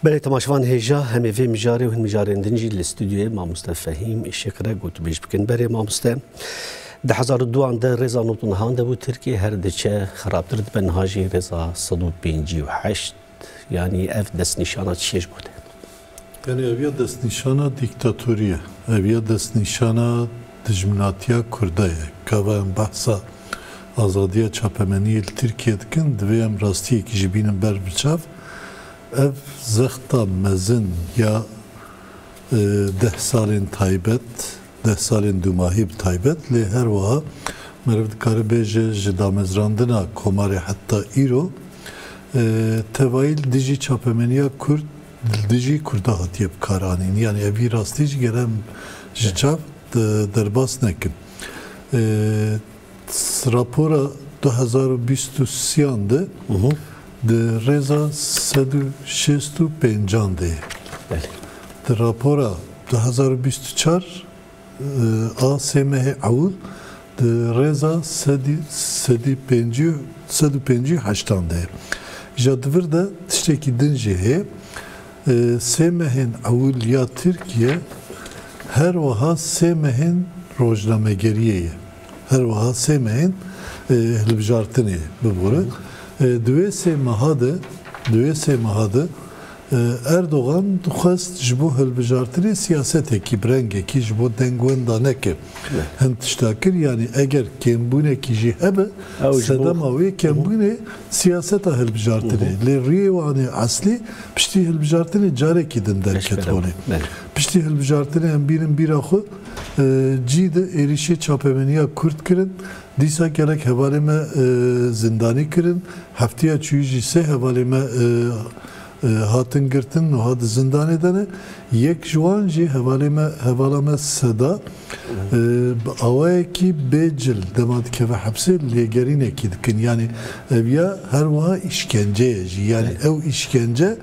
Belê temaşevan hêja hemê vê mijarê û hin mijarên din jî li stûdyoyê mamoste Fehîm Îşik re gotûbêj bikin. Berê mamoste di hezar û duan de rêza nod û nihan de bû Tirkiye her diçe xirabtir dibe niha jî rêza sed û pêncî û heşt yanî ev destnîşana çiye ji bo te? Yanî ev ya destnîşana dîktatorî ye, ev ya destnîşana dijminatiya Kurda ye. Gava em behsa azadiya çapemeniyê li Tirkiyê dikin, divê em rastiyekî jî bînin ber bi çav. Ev zexta mezin ya deh salên taybet, deh salên dûmahî bi taybet lê her wiha meriv dikare bêje ji damezrandina Komarê heta îro tevayî li dijî çapemeniya Kurd Li dijî Kurdan hatiye bikaranîn. Yanî ev vî rastî jî gere em ji çav derbas nekin. Rapora du hezar û bîst û sî-yan de di rêza sed û şêst û pêncan de ye. Di rapora du hezar û bîst û çar A sê mehê ewil di rêza sedî pêncî û heştan de ye. Ja di vir de tiştekî din jî heye. Sê mehên ewil ya Tirkiye her wiha sê mehên rojnamegeriyê ye. Her wiha sê mehên hilbijartinê ye. Bibore. Di wê sê meha de, di wê sê meha de Erdogan dixwest ji bo hilbijartinê siyasetekî bi rengekî ji bo dengwenda neke. Hin tişta kir, yanî eger kêmbûnekî jî hebe, sedema wê kembûnê siyaseta hilbijartinê ye. Lê riyê wan ê eslî piştî hilbijartinê carekî din derket holê. Piştî hilbijartinê em bînin bîra xwe cî di êrîşê çapemeniya Kurd kirin Dîsa gelek hevalên me zindanî kirin. Hefteya çûyî jî sê hevalên me hatin girtin nuha di zindanê de ne. Yek ji wan jî hevalê me hevala me Seda bi awayekî bê cil dema dikeve hepsê lêgerînekî dikin. Yanî ev ya her wiha îşkence ye jî. Yanî ew îşkence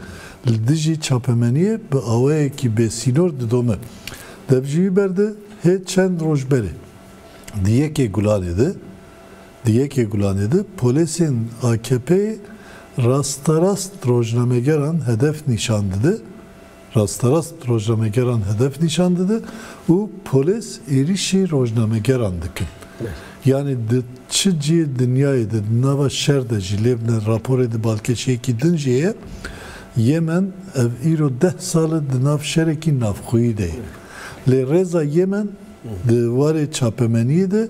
li dijî çapemeniyê bi awayekî bêsînor didome. Dev ji wî ber de hê çend roj berê. Di yekê gulanê de di yekê gulanê de polêsên AKP'ê rasterast rojnamegeran hedef nîşan dide rasterast rojnamegeran hedef nîşan dide û polês êrîşî rojnamegeran dikin. Yanî di çi cîyê dinyayê de di nava şer de jî lê bine raporê di balkêşeyekî din jî heye. Yemen ev îro deh sal e di nav şerekî navxweyî de ye. Lê rêza Yemen di warê çapemeniyê de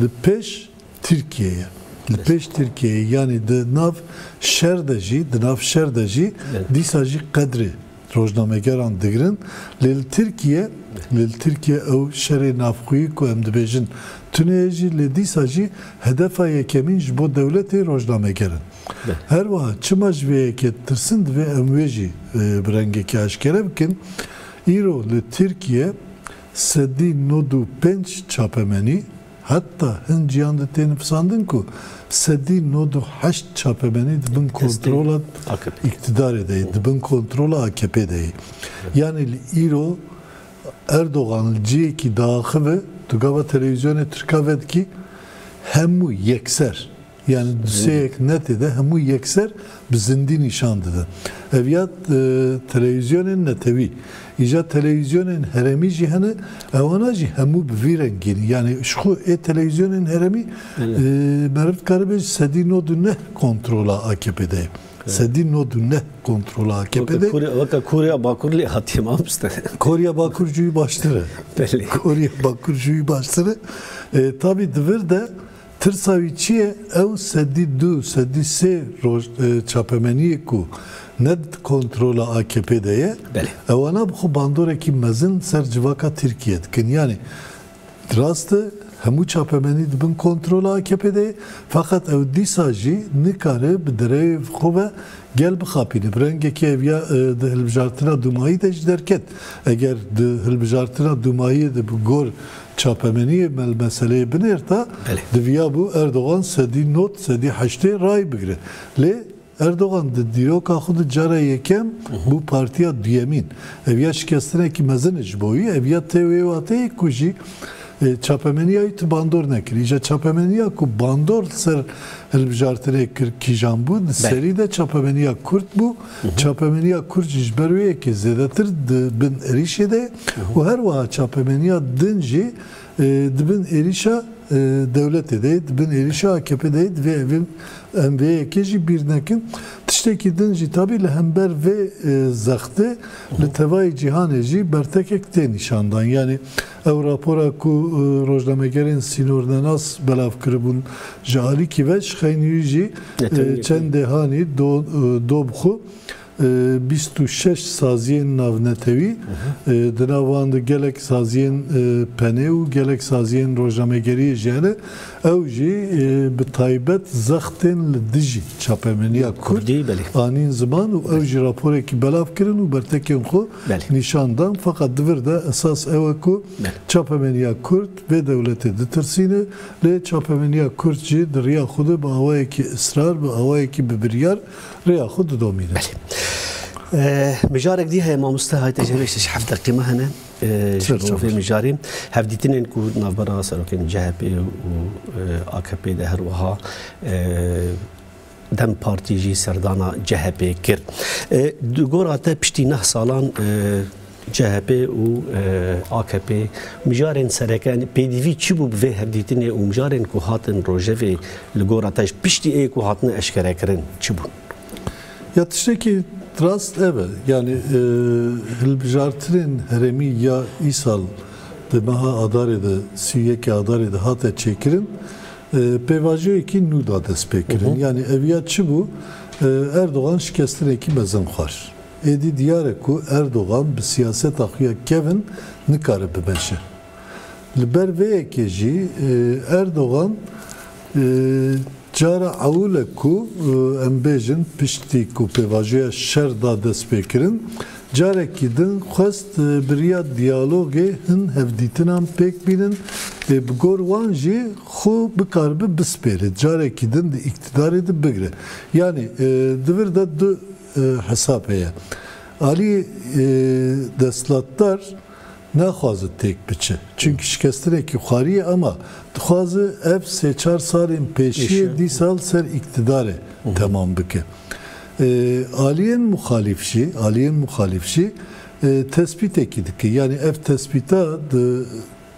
li pêş Tirkiyê ye. Li pêş Tirkiyê ye yanî di nav şer de jî di nav şer de jî dîsa jî qedrê rojnamegeran digirin. Lê li Tirkiyê lê li Tirkiyê ew şerê navxweyî ku em dibêjin tune ye jî lê dîsa jî hedefa yekemîn ji bo dewletê rojnameger in. Her wiha çima ji vê yekê ditirsin divê em wê jî bi rengekî aşkere bikin. Îro li Tirkiye sedî nod û pênc çapemenî heta hin cîhan de tê nifisandin ku sedî nod û heşt çapemenî di bin kontrola îktidarê de yê, di bin kontrola AKP'ê de yê. Yanî li îro Erdogan li cihekî diaxive, tu gava televîzyonê tirka vedikî hemû yekser Yanî di sê yek netê de hemû yekser bi zindî nîşan dide. Ev ya telewîzyonên netewî. Îja telewîzyonên herêmî jî hene, ewana jî hemû bi vî rengî ne. Yanî ji xwe ê telewîzyonên herêmî meriv dikaribe ji sedî nod û neh kontrola AKP'ê de ye. Sedî nod û neh kontrola AKP'ê de ye. Weke Korya Bakur lê hatiye mamoste. Korya Bakur ji wî baştir e. Belê. Korya Bakur ji wî baştir e. Tabî di vir de Tirsa wî çi ye? Ew sedî du, sedî sê roj çapemeniyê ku ne di kontrola akp de ye, ewana bi xwe bandorekî mezin ser civaka Tirkiyê dikin. Yanî rast e hemû çapemenî di bin kontrola akp de ye, feqet ew dîsa jî nikare bi derewê vê xwe ve gel bixapîne. Bi rengekî ev ya di hilbijartina dûmayî de jî derket. Eger di hilbijartina dûmayiyê de bi gor Çapemeniyê me li meseleyê binêrta, diviyabû Erdogan sedî not, sedî heştê rayî bigire. Lê Erdogan di dîroka xwe de cara yekem bû partiya duyemîn. Ev ya şikestinekî mezin e ji bo wî. Ev ya tê wê wateyê ku jî çapemeniya wî tu bandor nekirî. Îja çapemeniya ku bandor li ser hilbijartinê kir kîjan bû? Di serî de çapemeniya kurd bû. Çapemeniya kurd jî ji ber wê yekê zêdetir di bin êrîşê de ye. û her wiha çapemeniya din jî di bin êrîşa dewletê de ye, di bin êrîşa akp de ye, divê em vê yekê jî bîr nekin. Tiştekî din jî tabî li hember vê zextê li tevayî cîhanê jî bertekek tê nîşandan. Yanî ew rapora ku rojnamegerên sînornenas belav kiribûn ji alîkî ve ji xeynî wî jî çendê hanî dob xwe. Bîst û şeş saziyên navnetewî, di nav wan de gelek saziyên penê û gelek saziyên rojnamegeriyê jî hene, ew jî bi taybet zextên li dijî çapemeniya kurd anîn ziman û ew jî raporekî belav kirin û bertekên xwe nîşan dan. Feqet di vir de esas ew e ku çapemeniya kurd vê dewletê ditirsîne, lê çapemeniya kurd jî di riya xwe de bi awayekî israr, bi awayekî bi biryar Rêya xwe didomîne. Belê. Mijarek dî heye mamoste hayte ji hêvêşê ji heft deqî me hene ji bo vê mijarê. Hevdîtinên ku di navbera serokên CHP û AKP'ê de her wiha dem partî jî serdana CHP'ê kir. Di gora te piştî neh salan CHP û akp mijarên sereke in. Pêdivî çi bû bi vê hevdîtinê û mijarên ku hatin rojevê li gora te ji piştî ê ku hatine eşkerekirin çi bûn? Ya tiştekî rast ev e. Yanî hilbijartinên herêmî ya îsal di meha adarê de sî û yekê adarê de hate çêkirin pêvajoyekî nû da destpêkirin. Yanî eviya çi bû? Erdogan şikestinekî mezin xwar. Êdî diyar e ku Erdogan bi siyaseta xwe ya kevn nikare bimeşe. Li ber vê yekê jî Erdogan cara ewil e ku em bêjin piştî ku pêvajoya şer da destpêkirin carekî din xwest bi riya diyalogê hin hevdîtinan pêk bînin ê bi gor wan jî xwe bikaribe bispêre carekî din di îktidarê de bigire. Yanî di vir de du Hesab heye. Alî desthilatdar naxwaze têk biçe. Çimkî şikestinekî xwarî ye ama dixwaze ev sê çar salên pêşiyê dî sal ser îktidarê temam bike. Aliyên muxalîf jî, aliyên muxalîf jî tespîtekî dike. Yanî ev tespîta di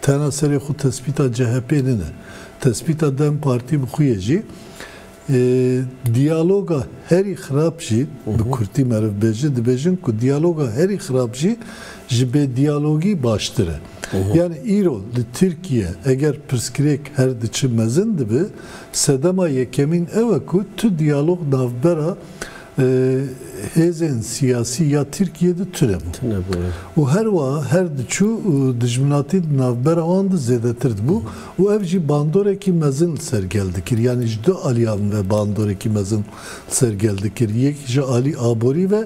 Tena serê xwe tespîta CHP'ê nine. Tespîta dem Partî bi xwe ye jî. Diyaloga herî xirab jî, bi kurtî meriv bê jî dibêjin ku diyaloga herî xirab jî ji bêdiyalogî baştir e. Yanî îro li Tirkiye eger pirsgirêk her diçi mezin dibi, sedema yekemîn ew e ku tu diyalog navbera hêzên siyasî ya Tirkiyê de tune bû û her wiha her diçû dijminatî di navbera wan de zêdetir dibû û ev jî bandorekî mezin li ser gel dikir. Yanî ji du aliyan ve bandorekî mezin li ser gel dikir. Yek ji alî aborî ve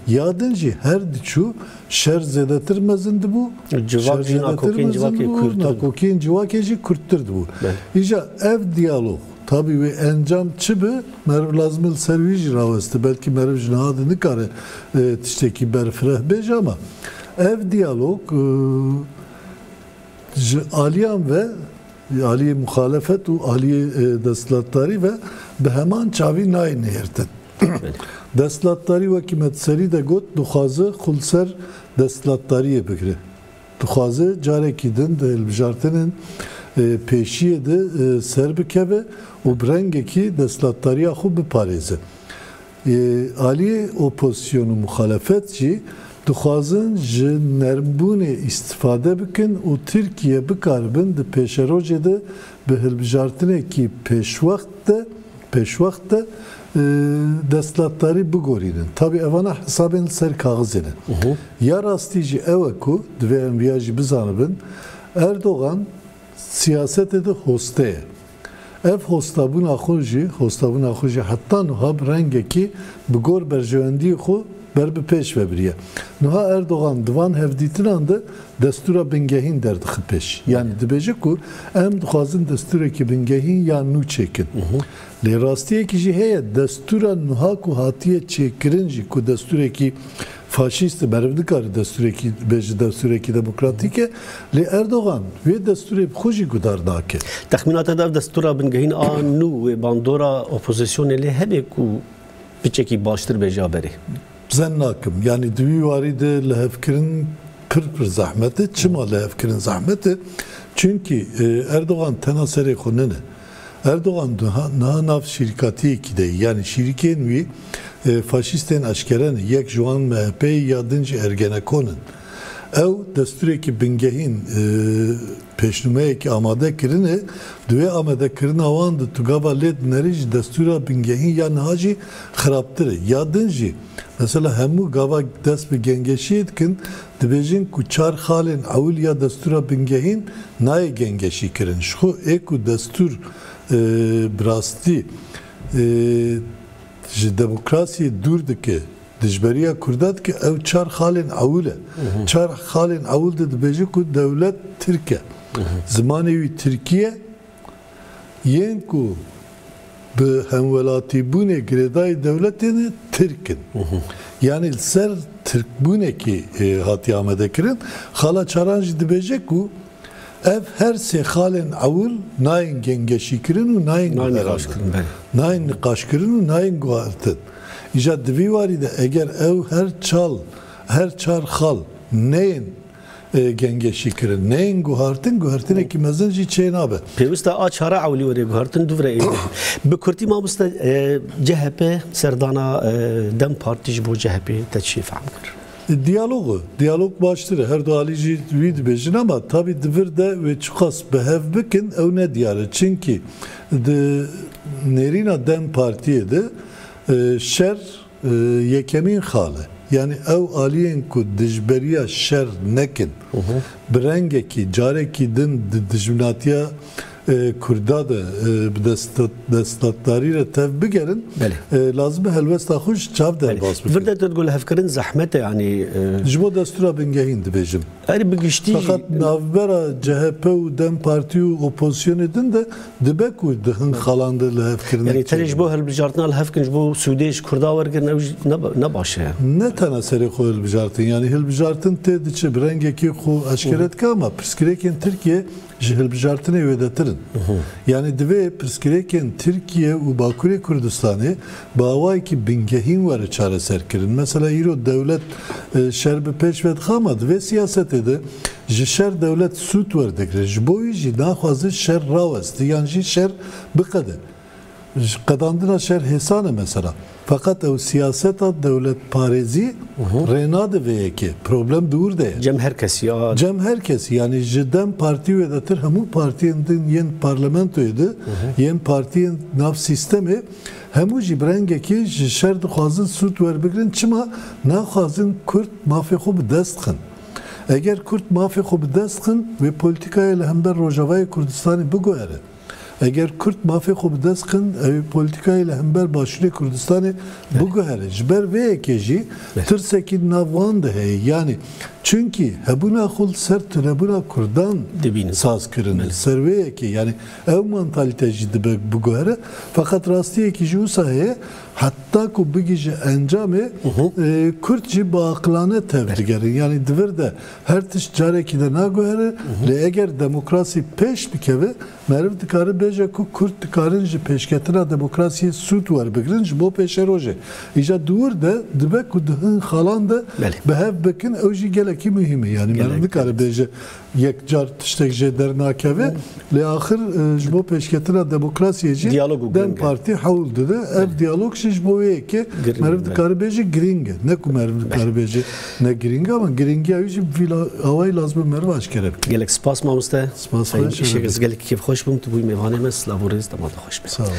ya din jî her diçû şer zêdetir mezin dibû, şer zêdetir mezin dibû û nakokiyên civakê jî kurttir dibûn. Îja ev diyalog. Tabî wê encam çi bi, meriv lazim e li ser wî jî raweste. Belkî meriv ji niha de nikare tiştekî berfireh bê jî ama ev diyalog ji aliyan ve, aliyê muxalefet û aliyê desthilatdarî ve bi heman çavî nayê nihêrtin. Desthilatdarî wekî me di serî de got dixwaze xwe li ser desthilatdariyê bigire. Dixwaze carekî din di hilbijartinên pêşiyê de serbikeve û bi rengekî destlatdariya xwe biparêze. Yê aliyê opozîsyon û muxalefet jî dixwazin ji nermbûnê îstîfade bikin û Tirkiye bikaribin di pêşerojê de bi hilbijartinekî pêşwext de pêşwext de destlatdarî bigorînin. Tabî evana hesabên li ser kaxizê ne. Ya rastî jî ew e ku divê em viya jî bizanibin, Erdogan siyasetê de hoste ye. Ev hostabûna xwe jî, hostabûna xwe jî heta nuha bi rengekî bi gor berjewendiyê xwe ber bi pêş vebiriye. Nuha Erdogan di van hevdîtinan de destûra bingehîn derdixe pêş. Yanî dibêje ku em dixwazin destûrekî bingehîn ya nû çêkin. Lê rastiyekî jî heye, destûra nuha ku hatiye çêkirin jî ku destûrekî faşîst e, meriv nikare destûrekî be ji destûrekî demokratîk e, lê Erdogan vê destûrê bi xwe jî gudar nake. Texmîna te dev destûra bingehîn a nû wê bandora opozisyonê lê hebe ku piçekî baştir be ja berê? Zen nakim. Yanî di wî warî de lihevkirin pir pir zehmet e. Çima lihevkirin zehmet e? Çimkî Erdogan tena serê xwe nine. Erdogan niha nav şîrkatiyekî de ye. Yanî şîrikên wî faşîstên eşkere ne. Yek ji wan MHP'ê ya din jî Ergenekon in. Ew destûrekî bingehîn pêşnûmeyekî amade kirine. Di wê amadekirina wan de tu gava lê dinerî ji destûra bingehîn ya niha jî xirabtir e. Ya din jî mesela hemû gava dest bi gengeşiyê dikin, Dibêjin ku çar xalên ewil ya destûra bingehîn nayê gengeşî kirin. Ji xwe ê ku destûr bi rastî ji demokrasiyê dûr dike, dijberiya Kurda dike, ew çar xalên ewil e. Çar xalên ewil de dibêje ku dewlet tirk e. Zimanê wî tirkî ye. Yên ku bi hemwelatîbûnê girêdayî dewletê ne Tirk in. Yanî li ser Tirkbûnekê hatiye amadekirin. Xala Çaran jî dibêje ku ev her sê xalên ewil nayên gengeşîkirin û nayên guherandin, nayên niqaşkirin û nayên guhertin. Îja di vî warî de eger ew her çar xal neyên Gengeşî kirin. Neyên guhartin, guhertinekî mezin jî çê nabe. Pêwist e a çare ewlî were guhartin du vire êdî. Bi kurtî mamoste CHP serdana dem partî ji bo CHP'ê te çi fehm kir? Diyalog e. Diyalog baştir e. Her du alî jî wî dibêjin ama tabî di vir de wê çiqas bi hev bikin ew ne diyar e. Çimkî di nêrîna dem partiyê de şer, Yekemîn xale, yanî ew aliyên ku dijberiya şer nekin, bi rengekî carekî din di dijminatiya Kurda de bi destdatdarî re tev bigerin, lazim e helwesta xwe ji çav derbas bikin. Vir de tu digul hevkirin zehmet e yanî. Ji bo destûra bingehîn dibêjim. Erê bi giştî jî. Feqet navbera CHP û dem Partî û opozîsyonê din de dibe ku di hin xalan de lihevkirinek Yanî tenê ji bo hilbijartina lihevkirin ji bo sûdê ji Kurdan wergirin ew jî ne baş e. Ne tena serê xwe hilbijartin yanî hilbijartin tê diçe bi rengekê xwe eşkere dike ama pirsgirêkên Tirkiyeyê ji hilbijartinê wêdetir in. Yanî divê pirsgirêkên Tirkiye û Bakurê Kurdistanê bi awayekî bingehîn were çareserkirin. Mesela îro dewlet şer bi pêş ve dixe ama di vê siyasetê de ji şer dewlet sût werdigre. Ji bo wî jî naxwaze şer raweste yan jî şer biqede. Ji qedandina şer hêsan e mesela. Feqet ew siyaseta dewletparêzî rê nade vê yekê. Problem di wir de ye. Cem her kesî ya. Cem her kesî yanî ji dem partî wêdetir hemû partiyên din yên parlamentoyê di yên partiyên nav sîstemê hemû jî bi rengekî ji şer dixwazin sûd werbigirin çima naxwazin kurd mafê xwe bi dest xin. Eger kurd mafê xwe bi dest xin wê polîtîkayê li hember Rojavayê Kurdistanê biguhere. Eger Kurd mafê xwe bi dest xin, ew ê polîtîkayê li hember Başûrê Kurdistanê biguhere. Ji ber vê yekê jî tirsekî di nav wan de heye. Yanî çimkî hebûna xwe li ser tunebûna Kurdan saz kirine. Li ser vê yekê yanî ew mantalîte jî dibe biguhere. Feqet rastiyekî jî wisa heye, heta ku bigihîje encamê, Kurd jî biaqilane tev digerin. Yanî di vir de Her tişt carekî de naguhere, lê eger demokrasî pêş bikeve, meriv dikare bêje ku kurd dikarin ji pêşketina demokrasiyê sûd werbigrin ji bo pêşerojê. Îja diwir de dibe ku di hin xalan de bi hev bikin, ew jî gelekî muhîm e. Yanî meriv nikare bêje yek car tiştek jê dernakeve, lê axir ji bo pêşketina demokrasiyê jî dem partî hewl dide. Ev diyalog jî ji bo wê yekê meriv dikare bêje girîng e, ne ku meriv nikare bêje. Ne girîng e ama girîngiya wî jî vî awayî lazim e meriv aşkere bike. Gelek spas mamoste. Spas xweş e. Îşek ez gelekî kêfxweş bûm tu bûyî mêvanê me silav û rêz dema te xweş be. Sağ ol.